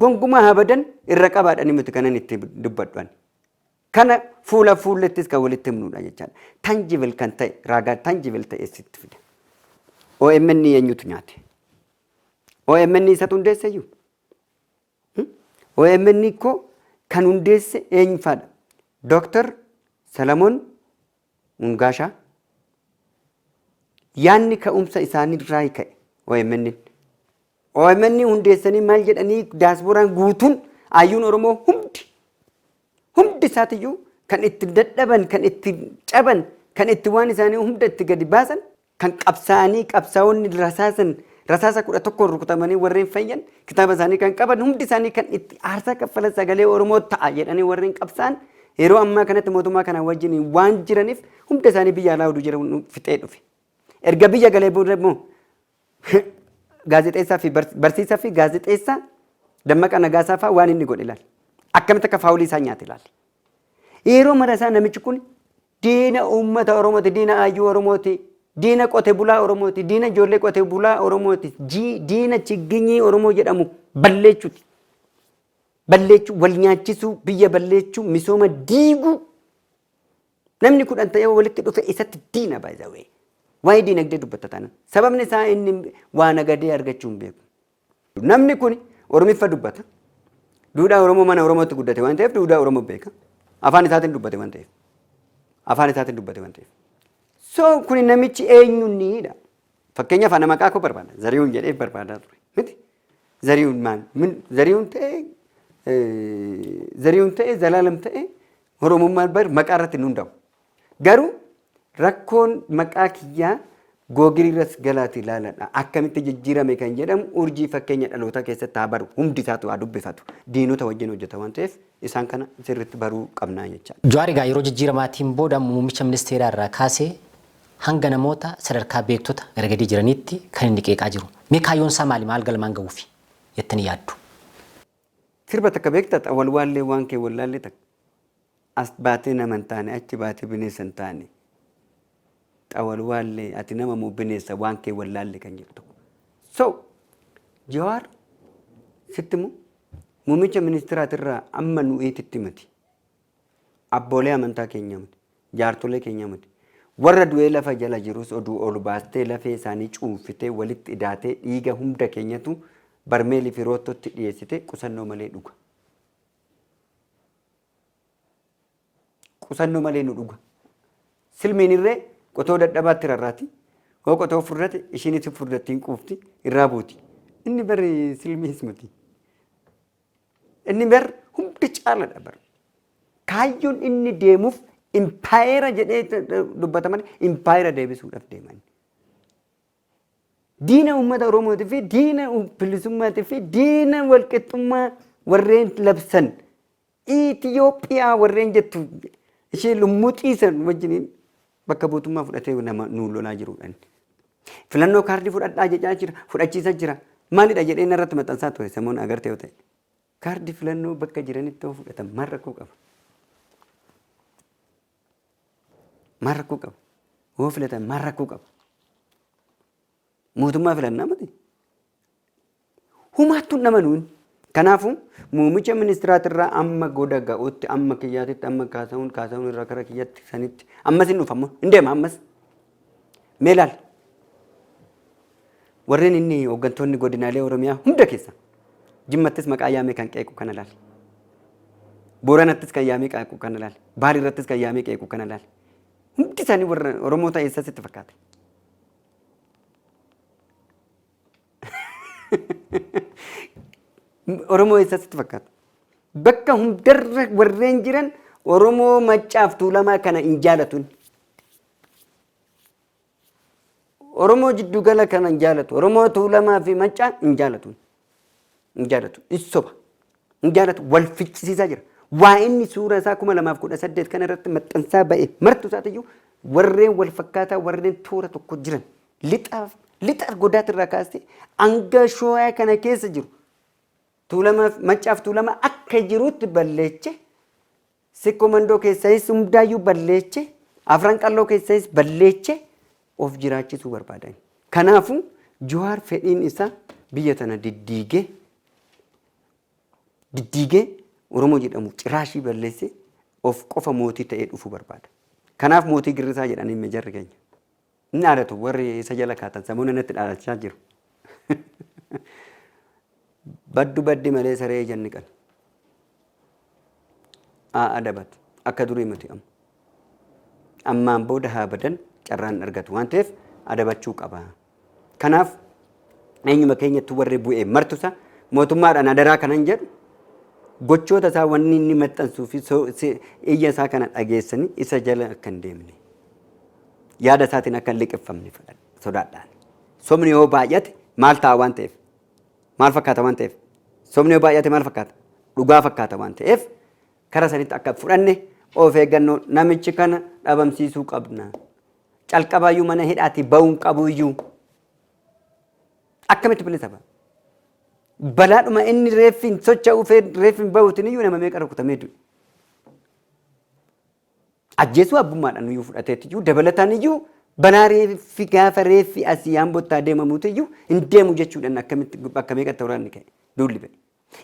S2: Gonkumaa habadan irra qabaadhani miti kanan itti dubbadhu ani. Kana fuula fuullettis kan walitti himnuudha jechaadha. Tangible kan ta'e raagaa tangible ta'e sitti fida. OMN eenyutu nyaate? OMN isatu hundeesse iyyuu? OMN koo kan hundeesse eenyufaadha? Dooktar Salamoon Mungaasha yaanni ka'umsa isaanii irraa ka'e OMN. OMN hundeessanii maal jedhanii daasbooraan guutuun ayyuun Oromoo hundi hundi isaatiyyuu kan itti dadhaban kan itti caban kan itti waan isaanii hunda itti gadi baasan Kan qabsaa'anii qabsaa'onni rasaasan rasaasa 11n rukutamanii warreen fayyan kitaaba isaanii kan qaban hundi isaanii kan itti aarsaa kaffalan sagalee Oromoo ta'a jedhanii warreen qabsaa'an yeroo ammaa kanatti mootummaa kanaa wajjin waan jiraniif hunda isaanii biyya alaa oduu jedhamu nu fixee dhufe. Erga biyya galee booda immoo gaazexeessaa fi bars- barsiisaa fi gaazexeessaa Dammaqaa Nagaasaa fa'aa waan inni godhe ilaali. Akkamitti akka faawulii isaa nyaate ilaali. Yeroo mara isaa namichi kun Diina uummata Oromooti, diina Haayyuu Oromooti, diina qote bulaa Oromooti, diina ijoollee qote bulaa Oromooti, jii diina chigginyii Oromoo jedhamu balleechuuti. Balleechuu, wal nyaachisuu, biyya balleechuu, misooma diiguu. Namni kudhan ta'ee walitti dhufe isatti diina by the way. Waa'ee diinagdee dubbatta taanaan. Sababni isaa inni waa nagadee argachuu hin beeku. Namni kun Oromiffa dubbata. Duudhaa Oromoo mana Oromootti guddate waan ta'eef duudhaa Oromoo beeka. Afaan isaatiin dubbate waan ta'eef. Afaan isaatiin dubbate waan ta'eef. So kun namichi eenyunniidha. Fakkeenyaaf ana maqaa koo barbaada. Zarihuun jedhee barbaadaa ture. Miti? Zarihuun maal? Min Zarihuun ta'ee Zarihuun ta'ee Zalaalam ta'ee Oromummaan bar maqaa irratti hin hundaa'u. Garuu rakkoon maqaa kiyyaa Google irras galaati ilaaladha. Akkamitti jijjiirame kan jedhamu urjii fakkeenya dhalootaa keessatti haa baru. Hundi isaatu haa dubbifatu. Diinota wajjin hojjeta waan ta'eef isaan kana sirriitti baruu qabnaa jechaa. Jawaar egaa yeroo jijjiiramaatiin
S1: booda muummicha ministeeraa irraa kaasee hanga namoota sadarkaa beektota gara gadii jiraniitti kan inni qeeqaa jiru. Mee kaayyoon isaa maali? Maal galmaan gahuufi jettanii yaaddu?
S2: Sirba takka beektaa ta wal waallee waan kee wallaallee takka As baatee nama hin taane achi baatee bineessa hin taane ta wal waallee ati nama moo bineessa waan kee wallaallee kan jedhu tokko. So Jawaar sitti immoo muummicha ministiraatirraa amma nu eetitti miti. Abboolee amantaa keenya miti. Jaartolee keenya miti. Warra du'ee lafa jala jirus oduu ol baastee lafee isaanii cuunfitee walitti idaatee dhiiga hunda keenyatu barmeelii fi roottootti dhiyeessite qusannoo malee dhuga. Qusannoo malee nu dhuga. Silmiin irree qotoo dadhabaatti rarraati. Hoo qotoo furdate ishiinis furdattiin quufti irraa buuti. Inni bari silmiis miti. Inni bar hunda caaladha bar. Kaayyoon inni deemuuf impaayera jedhee dubbata malee impaayera deebisuudhaaf deeman. Diina uummata Oromootii fi diina bilisummaatii fi diina walqixxummaa warreen labsan Itoophiyaa warreen jettu ishee lummuxii san wajjiniin Bakka buutummaa fudhatee nama nuun lolaa jiruudhaan. Filannoo kaardii fudhadhaa jechaa jira, fudhachiisa jira. Maalidha jedhee inni irratti maxxansaa ture samoon agarte yoo ta'e. Kaardii filannoo bakka jiranitti yoo fudhatan maal rakkoo qaba? Maal rakkoo qaba? Yoo filatan maal rakkoo qaba? Mootummaa filannaa miti. Humaattuu hin amanuu inni. Kanaafuu muumicha ministiraatirraa amma goda ga'utti amma kiyyaatitti amma kaasa'uun kaasa'uun irraa kara kiyyatti sanitti ammas hin dhufa hin deema ammas. Mee laal. Warreen inni hooggantoonni godinaalee Oromiyaa hunda keessa jimmattis maqaa yaamee kan qeequ kana laal. Booranattis kan yaamee qeequ kana laal. Baal irrattis kan yaamee qeequ kana laal. Hundi isaanii warra Oromoota eessas itti fakkaate. Oromoo eessaa sitti fakkaata? Bakka hundarra warreen jiran Oromoo maccaaf tuulamaa kana hin jaalatun. Oromoo jiddugala kana hin jaalatu. Oromoo tuulamaa fi maccaa hin jaalatun. Hin jaalatu. Issoba. Hin jaalatu. Wal ficcisiisaa jira. Waa inni suura isaa kuma lamaaf kudha saddeet kana irratti maxxansaa ba'e martu isaatiyyuu warreen wal fakkaataa warreen toora tokko jiran Lixa lixa argodaati irraa kaastee hanga shooyaa kana keessa jiru tuulamaaf maccaaf tuulama akka jirutti balleeche sikkoo mandoo keessayis hundaayyuu balleeche afran qalloo keessayis balleeche of jiraachisuu barbaadan. Kanaafuu Jawaar fedhiin isaa biyya tana diddiigee diddiigee Oromoo jedhamu ciraashii balleessee of qofa mootii ta'ee dhufuu barbaada. Kanaaf mootii girrisaa jedhanii mejarri keenya. Hin dhaadatu warri isa jala kaatan samuuna natti dhaadachaa jiru. Baddu baddi malee saree ija hin dhiqan. Aa adabat akka durii miti amma. Ammaan booda haa badan carraan hin argatu waan ta'eef adabachuu qaba. Kanaaf eenyuma keenyatti warri bu'ee martusa mootummaadhaan adaraa kanan jedhu gochoota isaa wanni inni maxxansuu fi iyya isaa kana dhageessanii isa jala akka hin deemne. Yaada isaatiin akka hin liqimfamne fedhan sodaadhaan. Sobni yoo baay'ate maal ta'a waan ta'eef? Maal fakkaata waan ta'eef? Sobni yoo baay'ate maal fakkaata? Dhugaa fakkaata waan ta'eef kara sanitti akka hin fudhanne of eeggannoo namichi kana dhabamsiisuu qabna. Calqabaayyuu mana hidhaatii ba'uun qabuyyuu akkamitti bilisa ba'a? Balaadhuma inni reeffiin socho'uu fi reeffiin bahuutiin iyyuu nama meeqa rukutamee du'e? ajjeesuu abbummaadhaan iyyuu fudhateetti iyyuu dabalataan iyyuu balaa reeffi gaafa reeffi asii Ambottaa deemamuuti iyyuu hin deemu jechuudhaan akkamitti bakka meeqatti waraanni ka'e duulli ba'e.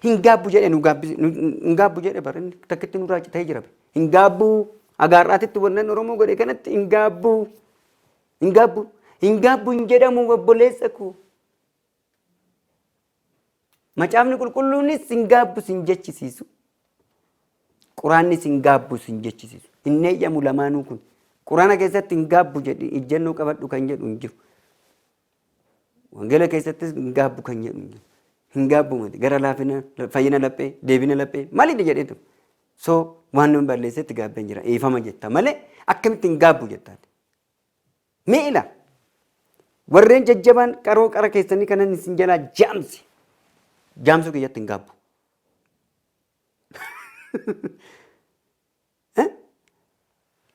S2: Hin gaabbu jedhe nu gaabbise hin gaabbu jedhe bara inni takkitti nu raaci ta'ee jira hin gaabbu agaarraatitti wannan Oromoo godhe kanatti hin gaabbu hin gaabbu hin gaabbu hin jedhamu obboleessa koo. Macaafni qulqulluunis sin gaabbu sin jechisiisu. Quraanni sin gaabbu sin jechisiisu. Hin eeyyamu lamaanuu kun. Quraana keessatti hin gaabbu jedhi ijjannoo qabadhu kan jedhu hin jiru. Wangeela keessattis hin gaabbu kan jedhu hin jiru. Hin gaabbu mati gara laafina fayyina laphee deebina laphee maliidha jedhee ture. So waan namni balleessetti gaabbeen jira eefama jetta malee akkamitti hin gaabbu jettaan. Mee ila! Warreen jajjabaan qaroo qara keessanii kanan isin jalaa jaamse jaamsuu kiyyatti hin gaabbu.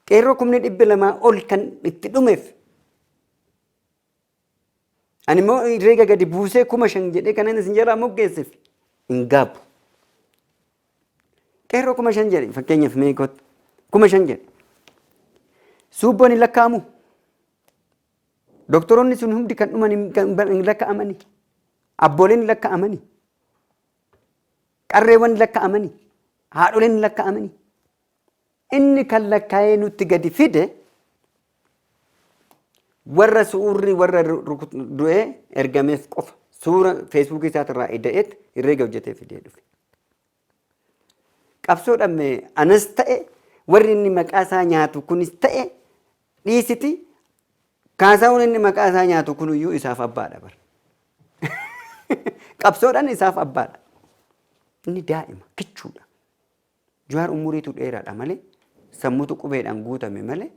S2: Qeerroo kumni dhibbi lamaa ol kan itti dhumeef ani immoo reega gadi buusee kuma shan jedhee kanan isin jalaa moggeesseef hin gaabbu. Qeerroo kuma shan jedhi fakkeenyaaf mee kottu kuma shan jedhi. Suubboon hin lakkaa'amu. Doktoroonni sun hundi kan dhuman hin- kan bar- hin lakkaa'amani. Abbooleen hin lakkaa'amani. Qarreewwan hin lakkaa'amani. Haadholeen hin lakkaa'amani. Inni kan lakkaa'ee nutti gadi fide warra su'uurri warra du'ee ergameef qofa suura feesbuukii isaatirraa ida'eet irreega hojjetee fidee dhufe. Qabsoodhaan mee anas ta'e warri inni maqaa isaa nyaatu kunis ta'e dhiisiti kaasaawwan inni maqaa isaa nyaatu kuniyyuu isaaf abbaadha bara. Qabsoodhaan isaaf abbaadha. Inni daa'ima kichuudha. Juhaar umuriitu dheeraadha malee sammutu qubeedhaan guutame malee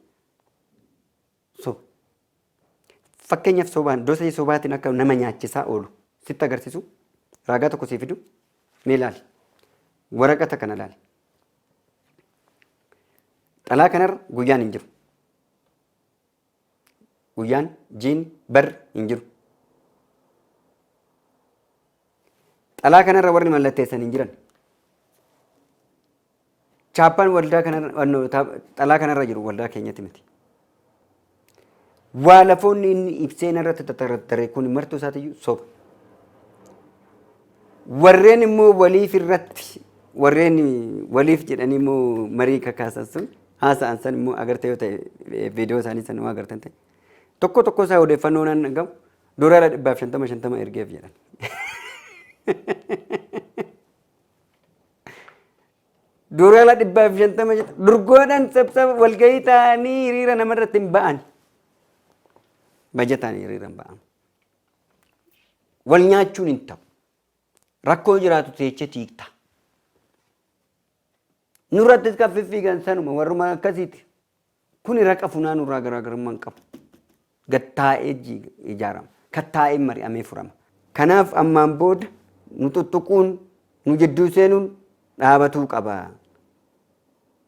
S2: soba. Fakkeenyaaf sobaan dosee sobaatiin akka nama nyaachisaa oolu sitti agarsiisu raagaa tokko sii fidu mee laali. Waraqata kana laali. Xalaa kanarra guyyaan hin jiru. Guyyaan, jiini, barri hin jiru. Xalaa kanarra warri mallatteessan hin jiran. Chaappaan waldaa kanarra xalaa kanarra jiru waldaa keenyatti miti. Waa lafoonni inni ibsee narratti tattarattare kun martuu isaatiyyuu soba. Warreen immoo waliif irratti warreen waliif jedhanii immoo marii kakaasan sun haasa'an san immoo agartee yoo ta'e viidiyoo isaanii san yoo agartan ta'e tokko tokko isaa odeeffannoo nan dhagahu doolaara dhibbaaf shantama shantama ergeef jedhan. Doolaara dhibbaaf shantama shantama durgoodhaan sabsaba walgahii ta'anii hiriira namarratti hin ba'an. Bajataan hiriira hin ba'an. Wal nyaachuun hin ta'u. Rakkoo yoo jiraatu teechee tiikta. Nurrattis kan fiffiigan sanuma warruma akkasiiti. Kuni raqa funaanuu irraa garaagarummaa hin qabu. Gad taa'ee ji- ijaarama. Kan taa'ee mari'amee furama. Kanaaf ammaan booda nu tuttuquun nu jidduu seenuun dhaabatuu qaba.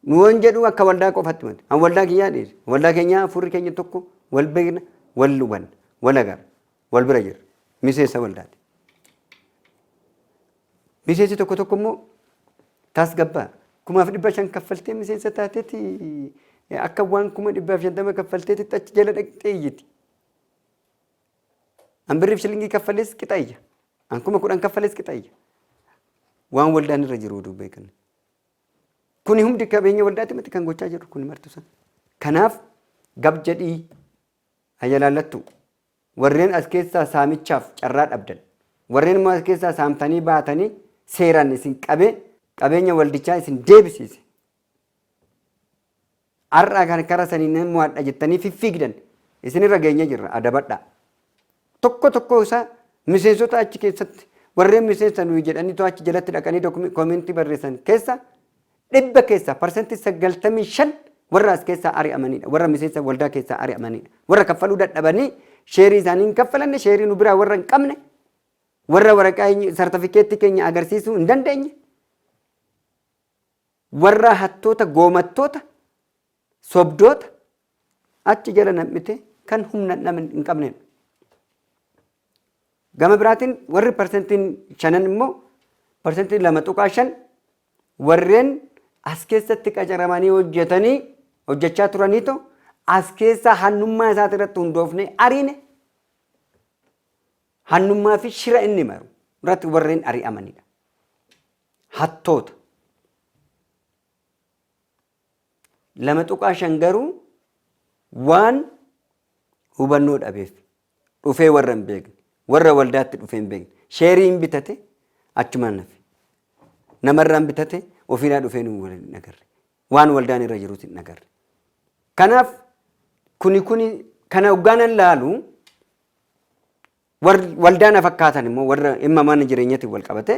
S2: Nu yoon jedhu akka waldaa qofatti miti. An waldaa kiyyaa dhiise. Waldaa keenyaa hafuurri keenya tokko wal beekna, wal hubanna, wal agarra, wal bira jirra. Miseensa waldaati. Miseensi tokko tokko immoo tasgabbaa kumaaf dhibba shan kaffaltee miseensa taateeti akka waan kuma dhibbaaf shantama kaffalteeti achi jala dhaqxee iyyiti. An birriif shilingii kaffalees qixa iyya. An kuma kudhan kaffalees qixa iyya. Waan waldaan irra jiru oduu beekan. Kuni hundi qabeenya waldaatti miti kan gochaa jiru kuni martu sana. Kanaaf gab jedhii hayalaallattu warreen as keessaa saamichaaf carraa dhabdan warreen immoo as keessaa saamtanii baatanii seeraan isin qabee qabeenya waldichaa isin deebisiise Har'a kan kara saniin nan mo'adha jettanii fiffiigdan isinirra geenye jirra adabadhaa. Tokko tokkoo isaa miseensota achi keessatti warreen miseensa nuyi jedhanii too achi jalatti dhaqanii dokum- koomentii barreessan keessa dhibba keessaa parsantii sagaltamii shan warra as keessaa ari'amanidha. Warra miseensa waldaa keessaa ari'amanidha. Warra kaffaluu dadhabanii sheerii isaanii hin kaffalanne sheerii nu biraa warra hin qabne warra waraqaa sartifikeettii keenya agarsiisuu hin dandeenye Warraa hattoota goomattoota sobdoota achi jala nam'itee kan humna hin qabnedha. Gama biraatiin warri parsantiin shanan immoo parsantiin lama tuqaa shan warreen as keessatti qacaramanii hojjetanii hojjechaa turaniito as keessaa hannummaa isaati irratti hundoofnee ariine hannummaa fi shira inni maru irratti warreen ari'amanidha. hattoota. 2.5 garuu waan hubannoo dhabeef dhufee warra hin beekne warra waldaatti dhufee hin beekne sheerii hin bitate achumaan nafe namarraa hin bitate ofiirraa dhufee nu wal hin agarre waan waldaan irra jirus hin agarre kanaaf kuni kuni kana hoggaanan laalu Warri waldaa na fakkaatan immoo warra dhimma mana jireenyatiin wal qabate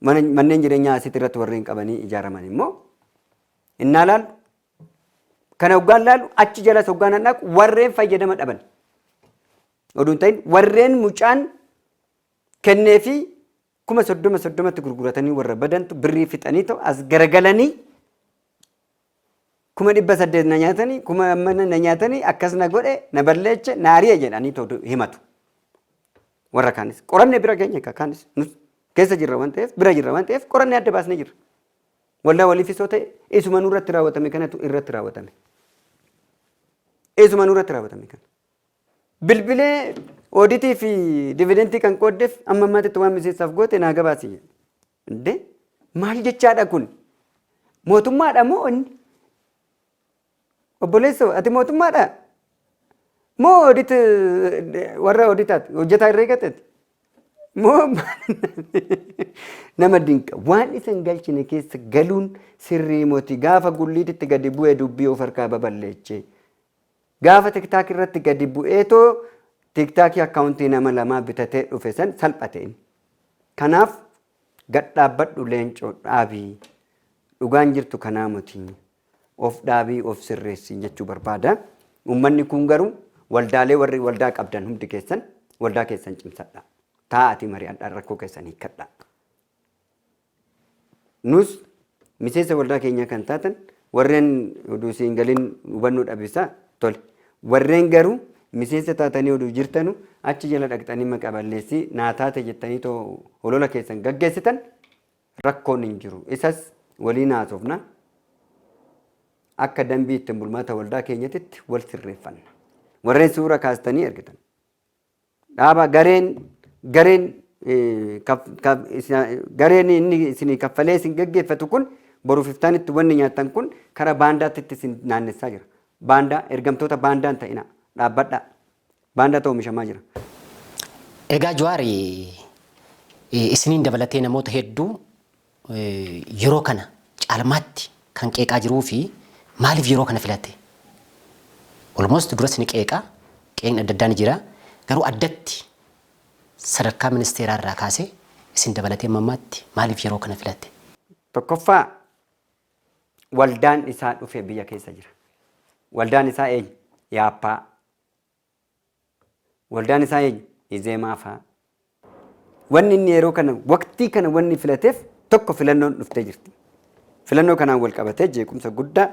S2: mana- manneen jireenyaa asitti irratti warreen qabanii ijaaraman immoo innaa laalu kana hoggaan laalu achi jalas hoggaan an dhaqu warreen fayyadama dhaban oduu hin ta'in warreen mucaan kennee fi Kuma soddoma soddomatti gurguratanii warra badantu birrii fixanii ta'u as garagalanii kuma dhibba saddeet na nyaatanii kuma mana na nyaatanii akkas na godhe na balleeche na ari'e jedhanii ta'u himatu. Warra kaanis qoranne bira keenya akka kaanis nus keessa jirra waan ta'eef bira jirra waan ta'eef qoranne adda baasne jirra. Waldaa waliifis yoo ta'e isuma nurratti raawwatame kanatu irratti raawwatame. Isuma nurratti raawwatame kana. Bilbilee ooditii fi dividentii kan qooddeef amma ammaatitti waan miseensaaf goote naa gabaasi. Indee maal jechaadha kun? Mootummaadha moo inni? Obboleessoo ati mootummaadha? Moo oodit warra ooditaati hojjetaa irree gateeti? Moo nama dinqa waan isa hin galchine keessa galuun sirrii moti gaafa gulliititti gadi bu'e dubbii of harkaa baballeechee. Gaafa tiktaak irratti gadi bu'eetoo tiktaakii akkaawuntii nama lamaa bitatee dhufe san salphate inni. Kanaaf gad dhaabbadhu leencoo dhaabii. Dhugaan jirtu kanaa moti. Of dhaabii of sirreessii jechuu barbaada. Uummanni kun garuu waldaalee warri waldaa qabdan hundi keessan waldaa keessan cimsadhaa. Taa'atii mari'adhaa rakkoo keessan hiikkadhaa. Nus miseensa waldaa keenyaa kan taatan warreen oduu si hin galin hubannoo dhabeessaa tole. Warreen garuu miseensa taatanii oduu jirtanu achi jala dhaqxanii maqa balleessii naa taate jettanii too holola keessan gaggeessitan rakkoon hin jiru. Isas waliin haasofna. Akka dambii ittiin bulmaata waldaa keenyatitti wal sirreeffanna. Warreen suura kaastanii ergitan. Dhaaba gareen gareen gareen inni isinii kaffalee isin gaggeeffatu kun boruuf iftaanitti wanni nyaattan kun kara baandaatti isin naannessaa jira. Baandaa ergamtoota baandaan ta'ina dhaabbadhaa. Baandaatu oomishamaa jira.
S1: Egaa Jawaar isiniin dabalatee namoota hedduu yeroo kana caalmaatti kan qeeqaa jiruu fi maaliif yeroo kana filate? Almost duras ni qeeqa, qeeqni adda addaa ni jira. Garuu addatti sadarkaa ministeeraa irraa kaasee isin dabalatee amma ammaatti maaliif yeroo kana filate? Tokkoffaa
S2: waldaan isaa dhufe biyya keessa jira. Waldaan isaa eenyu? Yaappaa. Waldaan isaa eenyu? Izeemaa faa. Wanni inni yeroo kana waqtii kana wanni filateef tokko filannoon dhuftee jirti. Filannoo kanaan wal qabatee jeequmsa guddaa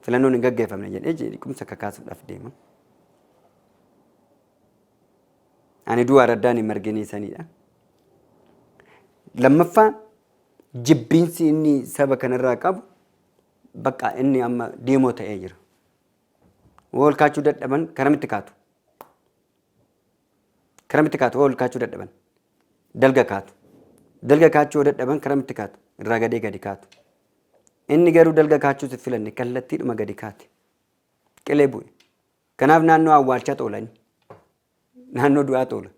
S2: filannoon hin gaggeeffamne jedhee jeequmsa kakaasuudhaaf deema. Ani du'a araddaan hin marginii sanidha. Lammaffaa jibbiinsi inni saba kanarraa qabu bakka inni amma deemoo ta'ee jira. Woo ol kaachuu dadhaban karamitti kaatu? Karamitti kaatu woo ol kaachuu dadhaban? Dalga kaatu. Dalga kaachuu yoo dadhaban karamitti kaatu? Irraa gadee gadi kaatu. Inni garuu dalga kaachuus hin filanne kallattiidhuma gadi kaate. Qilee bu'e. Kanaaf naannoo awwaalchaa toolani. Naannoo du'aa toola.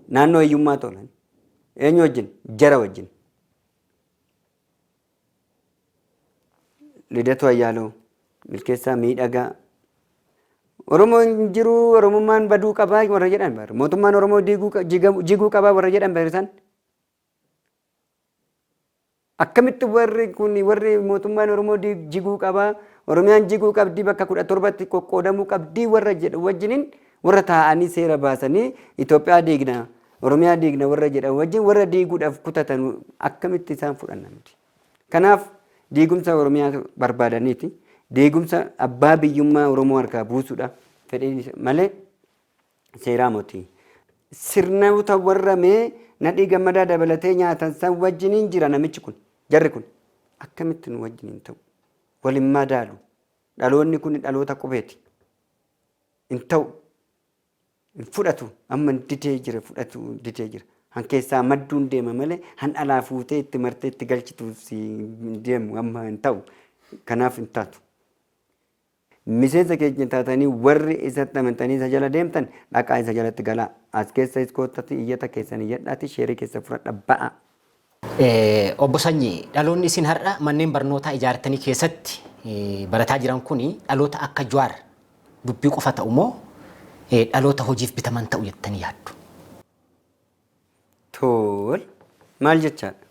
S2: Naannoo hiyyummaa toolani. Eenyu wajjin? Jara wajjin. Lidatuu Ayyaaloo, Milkeessaa Miidhagaa, Oromoo hin jiruu Oromummaan baduu qabaa warra jedhan bar. Mootummaan Oromoo diiguu qa- jigamu- jiguu qabaa warra jedhan bar isaan. Akkamitti warri kun warri mootummaan Oromoo diig- jiguu qabaa Oromiyaan jiguu qabdii bakka kudha torbatti qoqqoodamuu qabdii warra jedhu wajjiniin warra taa'anii seera baasanii Itoophiyaa diignaa Oromiyaa diigna warra jedhan wajjin warra diiguudhaaf kutatan akkamitti isaan fudhanna nuti. Kanaaf diigumsa Oromiyaa barbaadaniiti. Diigumsa abbaa biyyummaa Oromoo harkaa buusuudha fedhiin malee seeraa moti. Sirnoota warra mee nadhii gammadaa dabalatee nyaatan san wajjiniin jira namichi kun jarri kun akkamitti nu wajjiniin ta'u waliin madaalu dhaloonni kun dhaloota qubeeti hin ta'u Hin fudhatu amma didee jira fudhatu didee jira. Han keessaa madduun deema malee han alaa fuutee itti martee itti galchitu si hin deemu amma hin ta'u. Kanaaf hin taatu. Miseensa keenya taatanii warri isatti amantanii isa jala deemtan dhaqaa isa jalatti galaa. As keessa is koottati iyyata keessan iyyadhaati sheerii keessa fudhadha ba'aa.
S1: Obbo Sanyii, dhaloonni isin har'a manneen barnootaa ijaartanii keessatti barataa jiran kun dhaloota akka Jawaar dubbii qofa ta'u moo dhaloota hojiif bitaman ta'u jettanii yaaddu?
S2: Tole, maal jechaadha?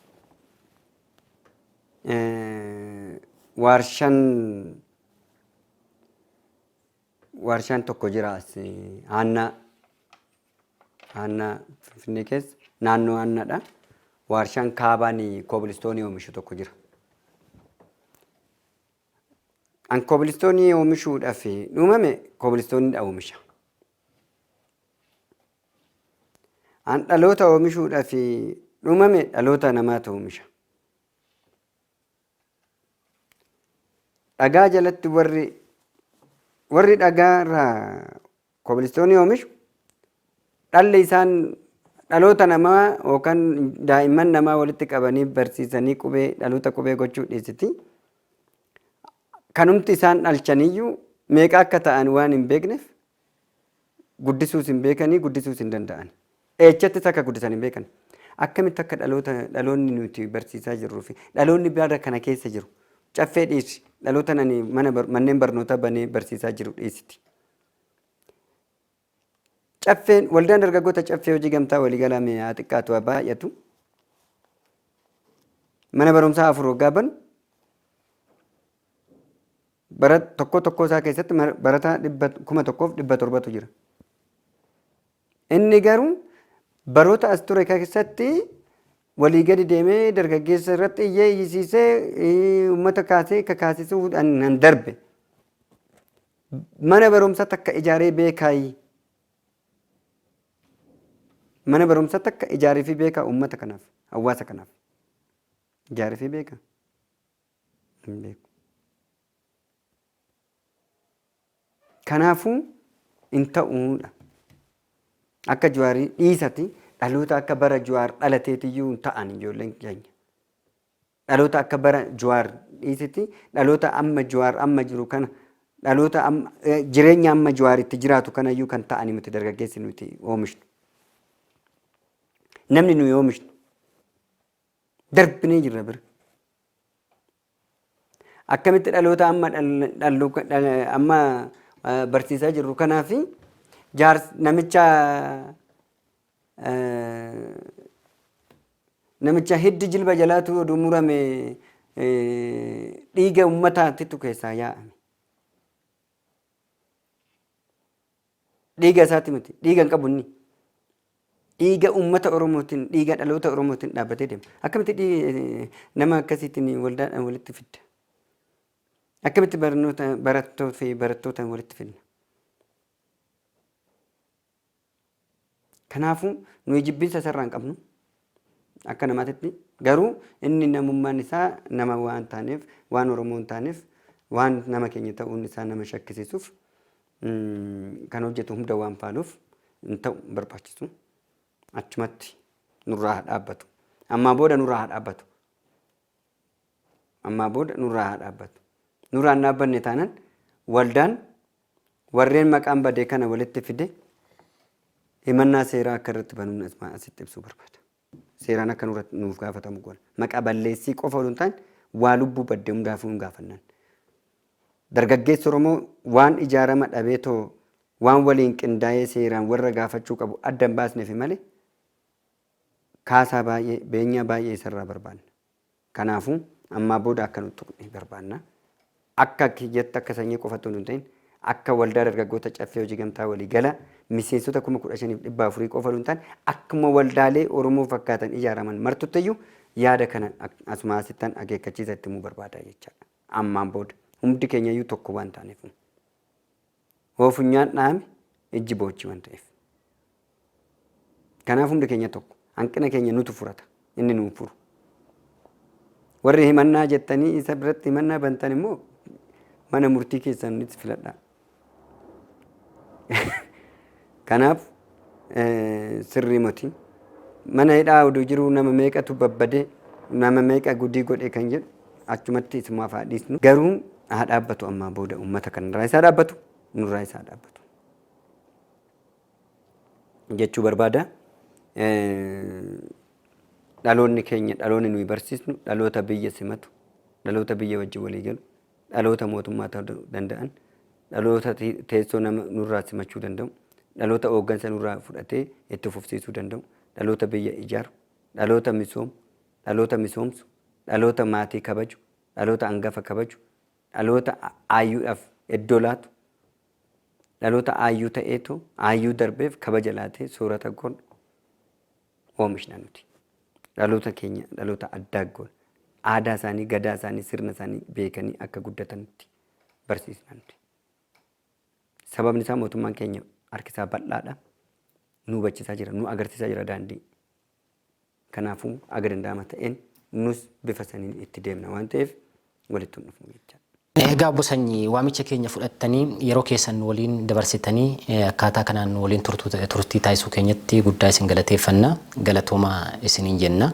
S2: Waarshaan waarshaan tokko jira as aannaa Aanaa Finfinnee keessa naannoo Aannaadha. Waarshaan kaabaan koobilistoonii oomishu tokko jira. An koobilistoonii oomishuudhaaf uumame koobilistooniidha oomisha. An dhaloota oomishuudhaaf uumame dhaloota namaatu oomisha. Dhagaa jalatti warri warri dhagaa irraa Kobilistoonii oomishu dhalli isaan dhaloota namaa yookaan daa'imman namaa walitti qabanii barsiisanii qubee dhaloota qubee gochuu dhiisiti. Kanumti isaan dhalchaniyyuu meeqa akka ta'an waan hin beekneef guddisuus hin beekanii guddisuus hin danda'an. Eechattis akka guddisan hin beekan. Akkamitti akka dhaloota dhaloonni nuti barsiisaa jirruu fi dhaloonni bara kana keessa jiru caffee dhiisi dhaloota nani mana bar- manneen barnootaa banee barsiisaa jiru dhiisiti. Caffeen waldaan dargaggoota caffee hojii gamtaa waliigalaa mee haa xiqqaatu haa baay'atu. Mana barumsaa afur waggaa banu bara tokko tokkoo isaa keessatti mara- barataa dhibba kuma tokkoof dhibba torbatu jira. Inni garuu baroota as ture keessatti walii gadi deemee dargaggeessa irratti iyyee iyyisiisee eh, uummata kaasee kakaasisuudhaan nan darbe. Mana barumsa takka ijaaree beekaayi. Mana barumsa takka ijaarifii beekaa uummata kanaaf, hawaasa kanaaf. Ijaarifii beeka? Hin beeku. Kanaafuu hin ta'uudha. Akka Juwaarii dhiisati dhaloota akka bara Juwaar dhalateetiyyuu hin ta'an ijoolleen keenya. Dhaloota akka bara Juwaar dhiisitti dhaloota amma Juwaar amma jiru kana dhaloota amma eh, jireenya amma Juwaar itti jiraatu kanayyuu kan ta'ani miti dargaggeessi nuti oomishnu. Namni nuyi oomishnu darbinee jirra bira. Akkamitti dhaloota amma dhal- dhallu- dhala- amma eh, barsiisaa jirru kanaa fi jaars namicha Namicha hiddi jilba jalaatu oduu murame dhiiga ummataatitu keessaa yaa'ame. Dhiiga isaati miti. Dhiiga hin qabu inni. Dhiiga ummata Oromootiin, dhiiga dhaloota Oromootiin dhaabbatee deema. Akkamitti dhii- nama akkasiitiin waldaadhaan walitti fidda? Akkamitti barnoota barattoota fi barattoota walitti fidna? Kanaafuu, nuyi jibbinsa isarraa hin qabnu. Akka namaatitti. Garuu inni namummaan isaa nama waan taaneef, waan Oromoo hin taaneef, waan nama keenya ta'uun isaa nama shakkisiisuuf kan hojjetu hunda waan faaluuf hin ta'u, hin barbaachisu. Achumatti nurraa haa dhaabbatu. Ammaa booda nurraa haa dhaabbatu. Ammaa booda nurraa haa dhaabbatu. Nurraa hin dhaabbanne taanaan waldaan Warreen maqaan bade kana walitti fide himannaa seeraa akka irratti banuun asuma asitti ibsuu barbaada. Seeraan akka nurratti nuuf gaafatamu goona. Maqaa balleessii qofa oduu hin taane waa lubbuu badde hundaafuu hin gaafannan. Dargaggeessi Oromoo waan ijaarama dhabee too waan waliin qindaa'ee seeraan warra gaafachuu qabu adda hin baasneefi malee kaasaa baay'ee beenyaa baay'ee isarraa barbaanna. Kanaafu, ammaa booda akka nun tuqne barbaanna. Akka ati jettu akka sanyii qofa utuu hin ta'in, akka waldaa dargaggoota Caffee Hojii Gamtaa walii gala miseensota 15,400 qofa utuu hin taane, akkuma waldaalee Oromoo fakkaatan ijaaraman martuttiyyu yaada kana asumaa asittan akeekkachiisa itti himuu barbaada jechaadha. Ammaan booda, humdi keenyayyu tokko waan taanefu. Hoo funyaan dhahame ijji boochii waan ta'eef. Kanaaf hundi keenya tokko. Hanqina keenya nutu furata. Inni nuun furu. Warri himannaa jettanii isa biratti himannaa bantan immoo mana murtii keessanitti filadhaa. Kanaaf sirrii moti. Mana hidhaa oduu jiruu nama meeqatu babbade, nama meeqa gudii godhe kan jedhu achumatti isumaaf haa dhiisnu. Garuu haa dhaabbatu ammaa booda uummata kanarraa isaa dhaabbatu, nurraa isaa dhaabbatu. Jechuu barbaada. Dhaloonni keenya dhaloonni nuyi barsiisnu dhaloota biyya simatu, dhaloota biyya wajjin walii galu, dhaloota mootummaa ta'uu danda'an, dhaloota teessoo nama nurraa simachuu danda'u, dhaloota hooggansa nurraa fudhatee itti fufsiisuu danda'u, dhaloota biyya ijaaru, dhaloota misoomu, dhaloota misoomsu, dhaloota maatii kabaju, dhaloota angafa kabaju, dhaloota aayyuudhaaf iddoo laatu, dhaloota aayyuu ta'eetoo aayyuu darbeef kabaja laatee soorata godhu. oomishna nuti. Dhaloota keenya dhaloota addaa goona. Aadaa isaanii, gadaa isaanii, sirna isaanii beekanii akka guddatanitti barsiisna nuti. Sababni isaa mootummaan keenya harki isaa bal'aadha. Nu hubachiisaa jira, nu agarsiisaa jira daandii. Kanaafuu aga danda'ama ta'een nus bifa saniin itti deemna waan ta'eef walitti hin dhufnu jechaadha. Egaa obbo Sanyii,
S1: waamicha keenya fudhattanii yeroo keessan nu waliin dabarsitanii akkaataa kanaan nu waliin turtii taasisuu keenyatti guddaa isin galateeffanna. Galatoomaa isiniin jenna.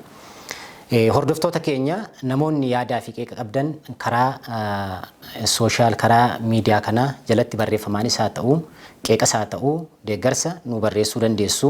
S1: Hordoftoota keenya namoonni yaadaa fi qeeqa qabdan karaa sooshaal karaa miidiyaa kanaa jalatti barreeffamaanis haa ta'u qeeqas haa ta'u deeggarsa nuu barreessuu dandeessu.